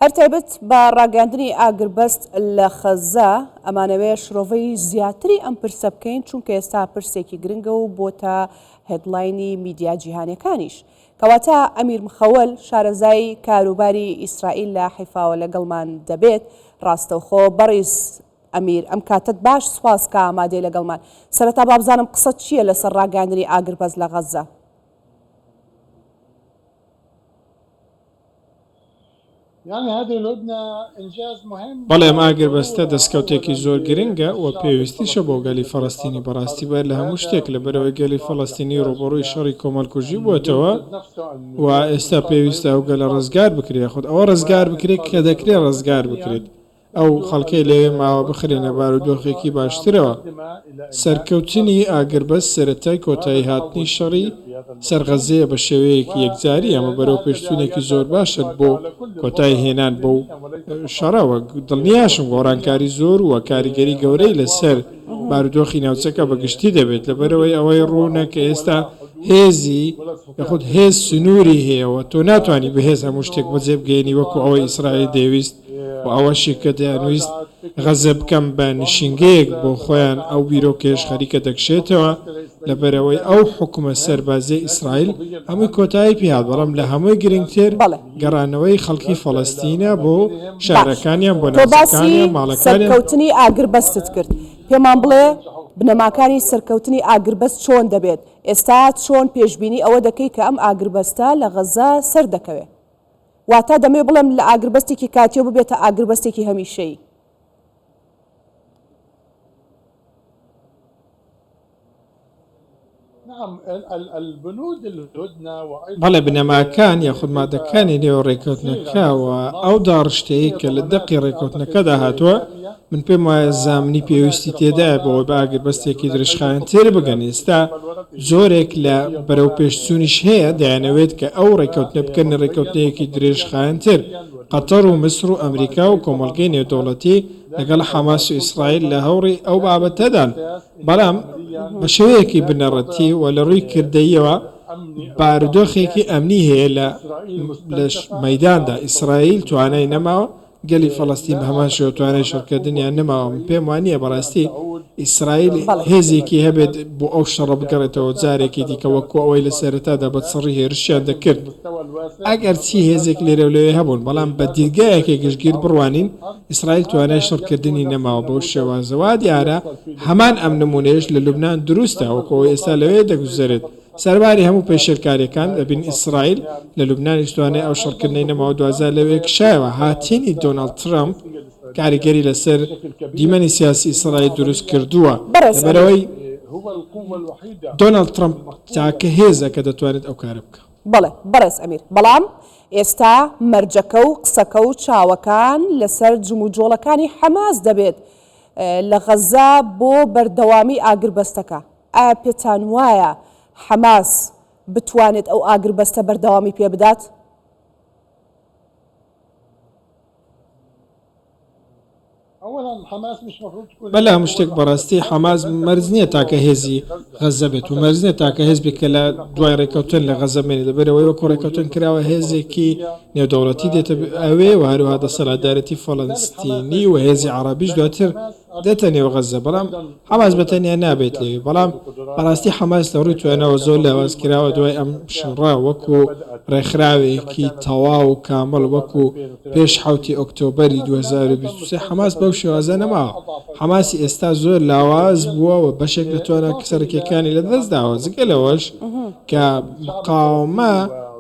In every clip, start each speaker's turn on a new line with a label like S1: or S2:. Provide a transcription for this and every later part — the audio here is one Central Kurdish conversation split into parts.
S1: هەر تایبەت بە ڕاگەاندنی ئاگربەست لە خەززە، ئەمانەوێ شرۆڤەی زیاتری ئەم پرسە بکەین، چونکە ئێستا پرسێکی گرنگە و بۆتە هێدلاینی میدیا جیهانیەکانیش. کەواتە ئەمیر مخەول شارەزای کاروباری ئیسرائیل لە حیفاوە لەگەڵمان دەبێت. ڕاستەوخۆ بەڕیز ئەمیر ئەم کاتەت باش سوپاس کە ئامادەی لەگەڵمان. سەرەتا بابزانم قسەت چییە لەسەر ڕاگەاندنی ئاگربەست لە غەززە؟
S2: بەڵێ ئەم ئاگربەستە دەستکەوتێکی زۆر گرنگە و پێویستیشە بۆ گەلی فەڵەستینی، بەڕاستی بەر لە هەموو شتێک لەبەرئەوەی گەلی فەڵەستینی ڕووبەڕووی شەڕی کۆمەڵکوژی بووەتەوە و ئێستا پێویستە ئەو گەلە ڕزگار بکرێت یاخود ئەوە ڕزگار بکرێت کە دەکرێت ڕزگار بکرێت. ئەو خەڵکەی لەوێ ماوە بخرێنە بارودۆخێکی باشترەوە. سەرکەوتنی ئاگربەست سەرەتای کۆتایی هاتنی شەڕی سەر غەززەیە بە شێوەیەکی یەکجاری، ئەمە بەرەوپێشچوونێکی زۆر باشە بۆ کۆتایی هێنان بەو شەڕە و دڵنیاشم گۆڕانکاری زۆر و کاریگەری گەورەی لەسەر بارودۆخی ناوچەکە بە گشتی دەبێت لەبەرئەوەی ئەوەی ڕوونە کە ئێستا هێزی یاخود هێز سنووری هەیە و تۆ ناتوانی بەهێز هەموو شتێک بەجێبگەیەنی وەکو ئەوەی ئیسرائیل دەیویست. و ئەوەشی کە دەیانویست غەزە بکەن بە نشینگەیەک بۆ خۆیان، ئەو بیرۆکەیەش خەریکە دەکشێتەوە، لەبەرئەوەی ئەو حوکمە سەربازییەی ئیسرائیل هەمووی کۆتایی پێهات، بەڵام لە هەمووی گرنگتر گەڕانەوەی خەڵکی فەڵەستینە بۆ شارەکانیان، بۆ ناوچەکانیان، ماڵەکانیان. باش، تۆ باسی سەرکەوتنی ئاگربەستت
S1: کرد، پێمان بڵێ بنەماکانی سەرکەوتنی ئاگربەست چۆن دەبێت؟ ئێستا چۆن پێشبینی ئەوە دەکەی کە ئەم ئاگربەستە لە غەزە سەردەکەوێ؟ واتە دەمەوێت بڵێم لە ئاگربەستێکی کاتییەوە ببێتە ئاگربەستێکی هەمیشەیی.
S2: بەڵێ بنەماکان یاخود مادەکانی نێو ڕێککەوتنەکە و ئەو داڕشتەیەی کە لە دەقی ڕێککەوتنەکەدا هاتووە، من پێم وایە زامنی پێویستی تێدایە بەوەی بە ئاگربەستێکی درێژخایەن تێربگەن، ئێستا جۆرێک لە بەرەوپێشچوونیش هەیە دەیانەوێت کە ئەو ڕێککەوتنە بکەنە ڕێککەوتنێکی درێژخایەنتر، قەتەر و میسر و ئەمریکا و کۆمەڵگەی نێودەوڵەتی لەگەڵ حەماس و ئیسرائیل لە هەوڕی ئەو بابەتەدان، بەڵام بە شێوەیەکی بنەڕەتی و لە ڕووی کردەییەوە بارودۆخێکی ئەمنی هەیە لە مەیداندا، ئیسرائیل توانای نەماوە گەلی فەڵەستین بە هەمان شێوە توانای شەڕکردنیان نەماوە من پێم وا نییە بەڕاستی ئیسرائیل بەڵێ. هێزێکی هەبێت بۆ ئەو شەڕە بگەڕێتەوە جارێکی دیکە وەکو ئەوەی لە سەرەتادا بە چڕی هێرشیان دەکرد ئەگەر چی هێزێک لێرەو لەوێ هەبوون بەڵام بە دیدگایەکی گشتگیر بڕوانین ئیسرائیل توانای شەڕکردنی نەماوە بەو شێوازە وا دیارە هەمان ئەم نمونەیەش لە لوبنان دروستە وەکو ئەوەی ئێستا لەوێ دەگوزەرێت سەرباری هەموو پێشێلکاریەکان لە بن ئیسرائیل لە لوبنانیش توانای ئەو شەڕکردنەی نەماو دوازار لەوێ کشایەوە هاتنی دۆناڵد ترەمپ کاریگەری لەسەر دیمەنی سیاسی ئیسرائیل دروست کردووە لەبەرئەوەی دۆناڵد ترەمپ تاکە هێزە کە دەتوانێت ئەو کارە بکا. بەڵێ بەڕێز ئەمیر،
S1: بەڵام ئێستا مەرجەکە و قسەکە و چاوەکان لەسەر جموجۆڵەکانی حەماس دەبێت لە غەزە بۆ بەردەوامی ئاگربەستەکە. ئایا پێتان وایە حەماس بتوانێت ئەو ئاگربەستە بەردەوامی پێ بدات؟
S2: بەلە هەموو شتێک بەڕاستی حەماس مەرج نییە تاکە هێزی غەززە بێت و مەرج نییە تاکە هێز بێت کە لە دوای ڕێککەوتن لە غەززە بمێنێت، لەبەر ئەوەی وەکو ڕێککەوتن کراوە هێزێکی نێودەوڵەتی دێتە ئەوێ و هەروەها دەسەلاتدارێتی فەلەستینی و هێزی عەڕەبیش دواتر دێتە نێو غەززە، بەڵام حەماس بە تەنیا نابێت لەوێ، بەڵام بەڕاستی حەماس لە ڕووی توانەوە زۆر لاواز کراوە دوای ئەم شەڕە، وەکو ڕێکخراوێکی تەواو و کامڵ وەکو پێش حەوتی ئۆکتۆبەری دوو هەزار و بیست و سێ حەماس بەو شێوازە نەماوە، حەماسی ئێستا زۆر لاواز بووە و بەشێک لە توانا سەرەکیەکانی لەدەست داوە، جگە لەوەش کە مقاوەمە.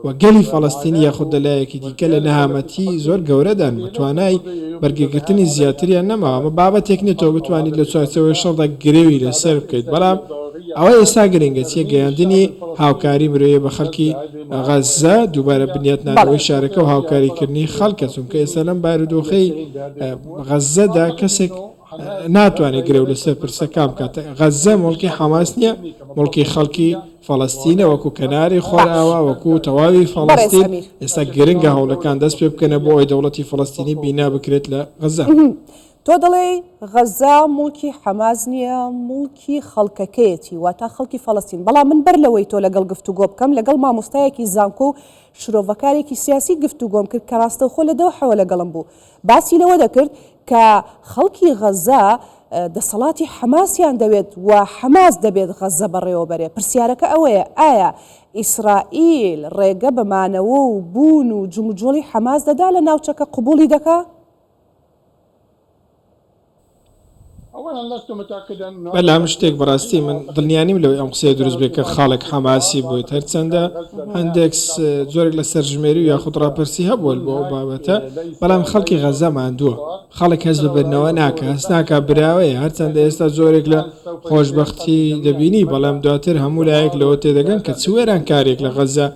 S2: و گەلی فەڵەستین یاخود لە لایەکی دیکە لە نەهامەتی زۆر گەورەدان و توانای بەرگەگرتنی زیاتریان نەماوە ئەمە بابەتێک نیە تۆ بتوانیت لە چوارچێوەی شەڕدا گرێوی لەسەر بکەیت بەڵام ئەوە ئێستا گرنگە چیە گەیاندنی هاوکاری مرۆیە بە خەڵکی غەززە دووبارە بنیاتنانەوەی شارەکە و هاوکاریکردنی خەڵکە چونکە ئێستا لەم بارودۆخەی غەززەدا کەسێک ناتوانێت گرێو لەسەر پرسەکان بکات غەززە مڵکی حەماس نییە مڵکی خەڵکی فەڵستینە وەکو کەناری خۆراوە وەکو تەواوی فەڵستین ئێستا گرنگە هەوڵەکان دەست پێ بکەنە بۆ ئەوی دەوڵەتی فەڵستینی بینا بکرێت لە غەزە تۆ
S1: دەڵێ غەزە مڵکی حەماز نییە مڵکی خەڵکەکەیەتی واتا خەڵکی فەڵستین بەڵام من بەر لەوەی تۆ لەگەڵ گفتوگۆ بکەم لەگەڵ مامۆستایەکی زانکۆ و شرۆڤەکارێکی سیاسی گفتوگۆم کرد کە ڕاستەوخۆ لە دەو حەوە لەگەڵم بوو باسی لەوە دەکرد کە خەڵکی غەززە دەسەڵاتی حەماسیان دەوێت و حەماس دەبێت غەززە بەڕێوەبەرێ، پرسیارەکە ئەوەیە ئایا ئیسرائیل ڕێگە بە مانەوە و بوون و جموجۆڵی حەماس دەدا لە ناوچەکە قبوڵی دەکا؟
S2: بەلام شتێک بەراستی من دلنیانیم لەوەی ئەم قسەیە دروست بێت کە خاڵێک حەماسی بویت هەرچەندە هەندێک جۆرێک لە سەرژمێری و یاخود راپرسی هەبوەل بۆ ئەو بابەتە بەلام خەلکی غەزە ماندوە خەڵک هەست بە بردنەوە ناکە هەست ناکا براوەیە هەرچەندە ئێستا جۆرێک لە خۆشبەختی دەبینی بەڵام دواتر هەموو لایەک لەوە تێدەگەن کە چ وێرانکاریەک لە غەزە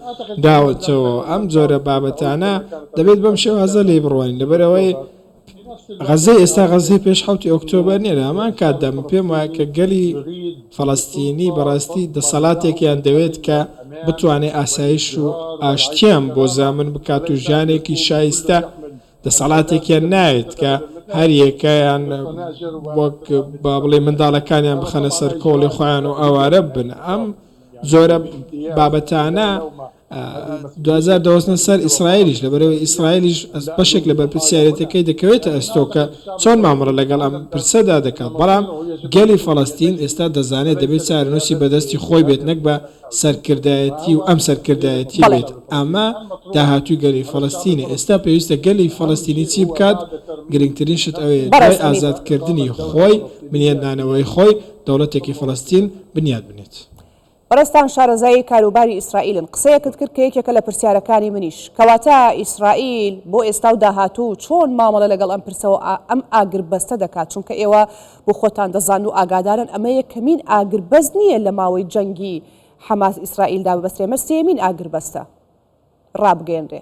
S2: داوەتەوە ئەم جۆرە بابەتانە دەبێت بەم شێوازە لێی بڕوانین لەبەرئەوەی غەزەی ئێستا غەزەی پێش حەوتی ئۆکتۆبەر نیە لە هەمان کاتدا من پێم وایە کە گەلی فەڵەستینی بەڕاستی دەسەڵاتێکیان دەوێت کە بتوانێت ئاسایش و ئاشتیان بۆ زامن بکات و ژیانێکی شایستە دەسەڵاتێکیان نایەت کە هەریەکەیان وەک با بڵێ منداڵەکانیان بخەنە سەر کۆڵی خۆیان و ئاوارە بن ئەم زۆرە بابەتانە دوجار دەوەستنە سەر ئیسرائیلیش لەبەرئەوەی ئیسرائیلیش بەشێک لە بەرپرسیارێتەکەی دەکەوێتە ئەستۆ کە چۆن مامەڵە لەگەڵ ئەم پرسەدا دەکات بەڵام گەلی فەڵەستین ئێستا دەزانێت دەبێت چارەنوسی بەدەستی خۆی بێت نەک بە سەرکردایەتی و ئەم سەرکردایەتی بێت ئەمە داهاتوی گەلی فەڵەستینە ئێستا پێویستە گەلی فەڵەستینی چی بکات گرنگترین شت ئەوەیە دوای ئازادکردنی خۆی بنیادنانەوەی خۆی دەوڵەتێکی فەڵەستین بنیاد بنێت. بەڕێزتان
S1: شارەزای کاروباری ئیسرائیلن قسەیەکت کرد کە یەکێکە لە پرسیارەکانی منیش کەواتە ئیسرائیل بۆ ئێستا و داهاتوو چۆن مامەڵە لەگەڵ ئەم پرسەوە ئەم ئاگربەستە دەکات چونکە ئێوە بۆ خۆتان دەزان و ئاگادارن ئەمە یەکەمین ئاگربەست نییە لە ماوەی جەنگی حەماس ئیسرائیلدا ببەسترێ ئەمە سێیەمین ئاگربەستە ڕابگەیەنرێ.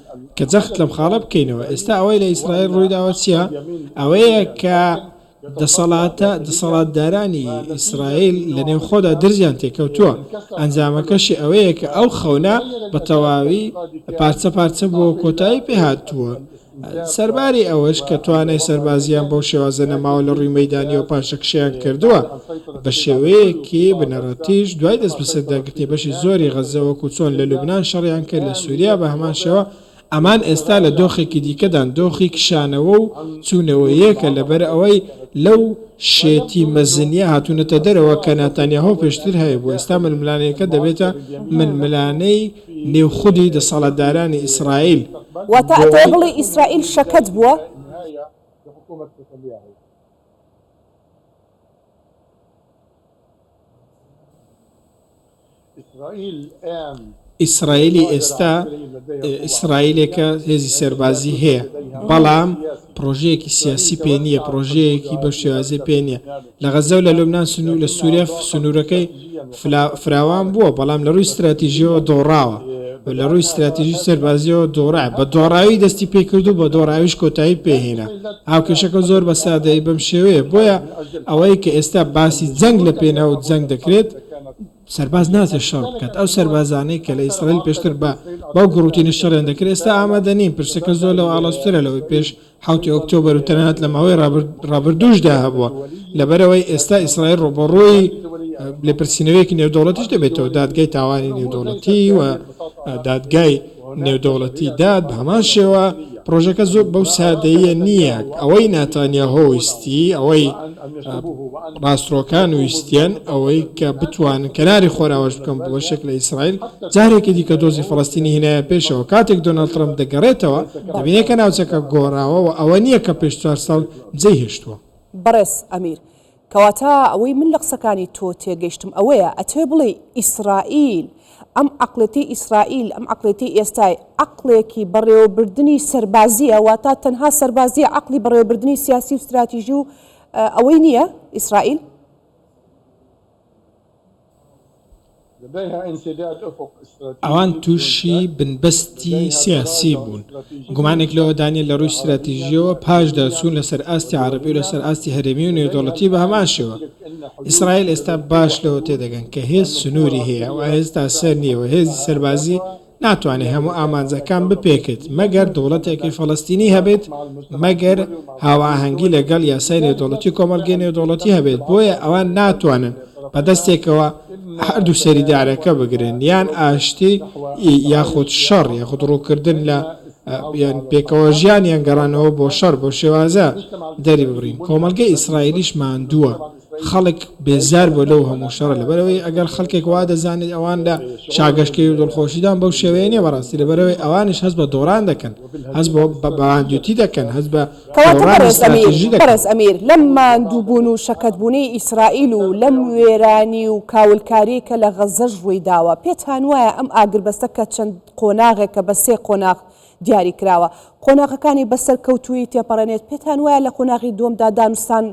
S2: کە جەخت لەم خاڵە بکەینەوە ئێستا ئەوەی لە ئیسرائیل ڕوویداوە چیە ئەوەیە کە دەسەڵاتە دەسەڵاتدارانی ئیسرائیل لە نێو خۆدا درزیان تێکەوتووە ئەنجامەکەشی ئەوەیە کە ئەو خەونە بە تەواوی پارچە پارچە بۆ کۆتایی پێ هاتووە سەرباری ئەوەش کە توانای سەربازیان بەو شێوازە نەماوە لە ڕووی مەدانیەوە پاشەکشەیان کردووە بە شێوەیەکی بنەڕەتیش دوای دەستبەسەرداگرتنی بەشی زۆری غەززە وەکو چۆن لە لوبنان شەڕیان کرد لە سوریا بە هەمان شێوە ئەمان ئێستا لە دۆخێکی دیکەدان دۆخی کشانەوە و چونەوەیەکە لەبەر ئەوەی لەو شێتی مەزنیە هاتونەتە دەرەوە کە ناتانیاهۆ پێشتر هەیبوو ئێستا ململانێکە دەبێتە ململانێی نێو خودی دەسەڵاتدارانی ئیسرائیل واتە ئەتەوێ
S1: بڵێی ئیسرائیل شەکەت بووە؟
S2: ئیسرائیلی ئێستا ئیسرائیلێکە هێزی سەربازی هەیە بەڵام پرۆژەیەکی سیاسی پێ نییە پرۆژەیەکی بە شێوازی پێ نیە لە غەزە و لە لومناان سنوور لە سووریا سنوورەکەی فراوان بووە، بەڵام لە رووی ستراتیژییەوە دۆڕاوە و لە رووی ستراتیژی سەربازییەوە دۆڕا، بە دۆڕاوی دەستی پێ کرد و بە دۆڕاویش کۆتایی پێ هێنا. هاوکێشەکە زۆر بە سادەیی بەم شێوەیە، بۆیە ئەوەی کە ئێستا باسی جەنگ لە پێناو جەنگ دەکرێت، سەرباز ناچێت شەڕ بکات، ئەو سەربازانەی کە لە ئیسرائیل پێشتر بە بەو گوڕوتینە شەڕیان دەکرد ئێستا ئامادە نین، پرسەکە زۆر لەوە ئاڵۆزترە لەوەی پێش حەوت ی ئۆکتۆبەر و تەنانەت لە ماوەی ڕابردووشدا هەبووە، لەبەرئەوەی ئێستا ئیسرائیل ڕووبەڕووی لێپرسینەوەیەکی نێودەوڵەتیش دەبێتەوە، دادگای تاوانی نێودەوڵەتی و دادگای نێودەوڵەتی داد، بە هەمان شێوە پڕۆژەکە زۆر بەو سادەییە نییە، ئەوەی ناتانیاهۆ ویستی ئەوەی. ماسترۆکان ویستیان ئەوەی کە بتوانن کەناری خۆراوەش بکەن بڵۆشێک لە ئیسرائیل جارێکی دیکە دۆزی فەڵەستینی هینایە پێشەوە کاتێک دۆناڵد ترەمپ دەگەڕێتەوە دەبینێت کە ناوچەکە گۆڕاوە و ئەوە نییە کە پێش چوار ساڵ جێی هێشتووە. بەڕێز ئەمیر،
S1: کەواتە ئەوەی من لە قسەکانی تۆ تێگەیشتم ئەوەیە ئەتەوێ بڵێی ئیسرائیل ئەم عەقڵێتەی ئیسرائیل، ئەم عەقڵێتەی ئێستای، عەقڵێکی بەڕێوەبردنی سەربازییە، واتە تەنها سەربازییە، عەقڵی بەڕێوەبردنی سیاسی و ستراتیژی و ئەوەی نییە، ئیسرائیل.
S2: ئەوان تووشی بنبەستی سیاسی بوون، گومانێک لەوەدا نییە لەڕووی ستراتیژییەوە پاشداچوون لەسەر ئاستی عەرەبی و لەسەر ئاستی هەرێمی و نێودەوڵەتی بەهەمان شێوە. ئیسرائیل ئێستا باش لەوە تێدەگەن کە هێز سنووری هەیە و ئێستا سەر نییە و هێزی سەربازی ناتوانێت هەموو ئامانجەکان بپێکێت مەگەر دەوڵەتێکی فەڵەستینی هەبێت مەگەر هاوئاهەنگی لەگەڵ یاسای نێودەوڵەتی کۆمەڵگەی نێودەوڵەتی هەبێت بۆیە ئەوان ناتوانن بە دەستێکەوە هەردوو سەری دارەکە بگرن یان ئاشتی یاخود شەڕ یاخود ڕووکردن لە یان پێکەوە ژیان یان گەڕانەوە بۆ شەڕ بەو شێوازە دەری ببڕین کۆمەڵگەی ئیسرائیلیش ماندووە خەڵک بێزار بۆ لەو هەموو شەڕە لەبەرەوەی ئەگەر خەڵکێک وا دەزانێت ئەوان لە شاگەشکەی و دڵخۆشیدان بەو شێوەیە نیە بەڕاستی لەبەرەوەی ئەوانش هەست بە دۆڕان دەکەن هەست بۆ بە باندوتی دەکەن هەست بە
S1: بەڕێز ئەمیر لەم ماندووبوون و شەکەتبوونەی ئیسرائیل و لەم وێرانی و کاولکاری کە لە غەزەش ڕووی داوە پێتان وایە ئەم ئاگربەستە کە چەند قۆناغێک کە بە سێ قۆناغ دیاری کراوە قۆناغەکانی بە سەرکەوتوویی تێپەڕێنێت، پێتان وایە لە قۆناغی دووەمدا دانوستان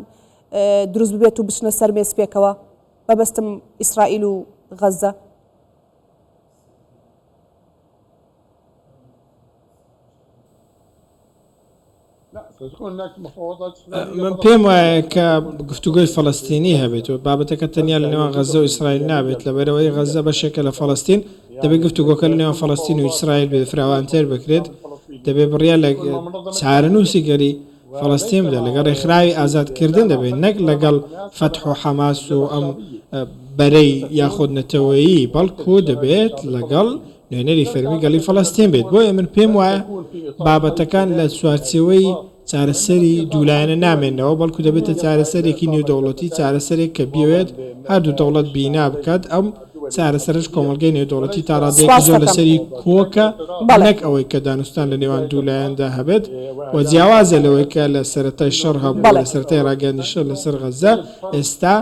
S1: دروست ببێت و بچنە سەر مێز پێکەوە؟ مەبەستم ئیسرائیل و غەززە.
S2: من پێم وایە کە گفتوگۆی فەڵەستینی هەبێت و بابەتەکە تەنیا لە نێوان غەزە و ئیسرائیل نابێت لەبەرەوەی غەزە بەشێکە لە فەڵەستین دەبێت گفتوگۆکە لە نێوان فەڵەستین و ئیسرائیل بێت فراوانتر بکرێت دەبێ بڕیا لە چارەنووسی گەلی فەڵەستین بدە لەگەڵ ڕێکخراوی ئازادکردن دەبێت نەک لەگەڵ فەتح و حەماس و ئەم بەرەی یاخود نەتەوەیی بەڵکو دەبێت لەگەڵ نوێنەری فەرمی گەڵی فەڵەستین بێت، بۆیە من پێم وایە بابەتەکان لە چوارچێوەی چارەسەری دوولایەنە نامێنەوە، بەڵکو دەبێتە چارەسەرێکی نێودەوڵەتی، چارەسەرێک کە بیەوێت هەردوو دەوڵەت بینا بکات، ئەم چارەسەرەش کۆمەڵگەی نێودەوڵەتی تا ڕادەیەکی زۆر لەسەری کۆکە، نەک ئەوەی کە دانوستان لە نێوان دوو لایەندا هەبێت و جیاوازە لەوەی کە لە سەرەتای شەڕ هەبوو، لە سەرەتای ڕاگەیاندنی شەڕ لەسەر غەززە، ئێستا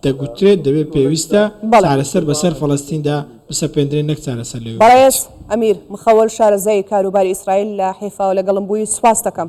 S2: دەگوترێت دەبێت پێویستە چارەسەر بەسەر فەڵەستیندا. بسەپێندرێن نەک چارەسەر لەوێ بکرێت. بەڕێز
S1: ئەمیر مخەوەل شارەزای کاروباری ئیسرائیل لە حیفا و لەگەڵم بوویت سوپاستەکەم.